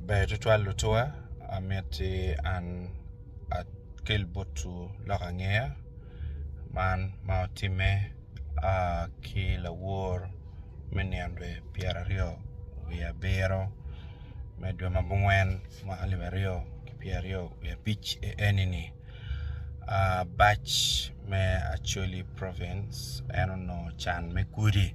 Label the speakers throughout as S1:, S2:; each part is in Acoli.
S1: Ber tutwal lutuwa amiti an akel botwu lok angeya man ma otimme ki lawor me nino dwe pyeraryo wiye abiro me dwe ma gungwen mwaka alip aryo ki pyeraryo wiye abic enini bac me Acholi province en onongo can me gudi.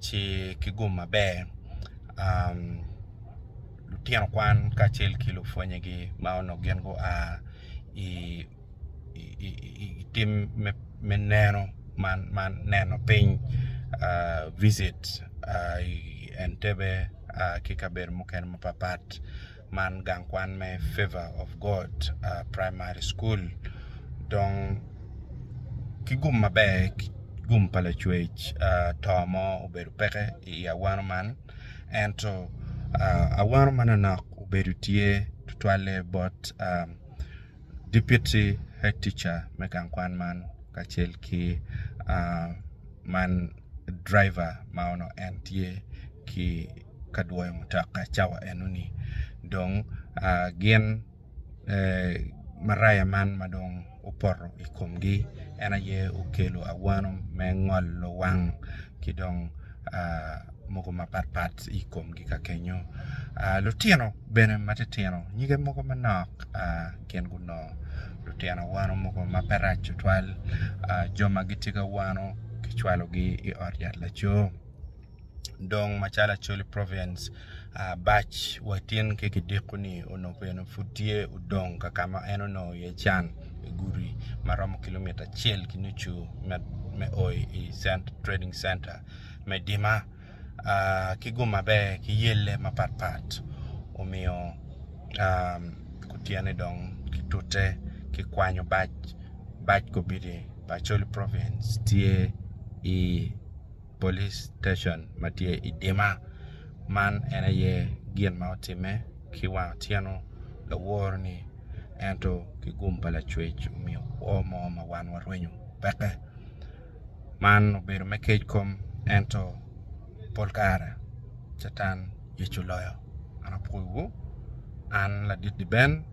S1: ci ki gum maber lutino kwan kacel ki lupwonnyegi ma onongo gin gua i tim me neno ma neno piny visit Entebbe ki kabedo mukene mapat pat man gang kwan me Favour of God Primary School dong ki gum maber ki gum pa lacwec to mo obedo peke i awano man ento awano ma nonok obedo tye tutwalle bot Deputy Head Teacher me gang kwan man kacel ki man driver ma onongo en tye ki ka dwoyo mutoka cawa enoni dong gin maraya man ma dong opoto i komgi en aye okelo awano me ngolo wang ki dong mogo mapat pat i komgi ka kenyo lutino bene ma titino nyige mogo manok gin gunongo lutino awano mogo ma pe rac tutwal jo ma gitye ki awano kicwalogi i ot yat laco. dong macalo acholi province bac wa tin ki kidiko ni onongo bene pud tye odong ka ka ma en onongo iye can i gudi ma romo kilomita acel ki nucu me o i trading center me Dima ki guma bene ki yelle mapat pat omiyo kutyene dong kitute ki kwanyo bac, bac kobidi pa acholi province tye i police station ma tye i Dima man en aye gin ma otimme ki wang otyeno laworo ni ento ki gum pa lacwec omiyo kwo mo ma wan warwenyo peke man obedo me kec kom ento pol kare catan yec oloyo an apwoyo wu an ladit di Ben.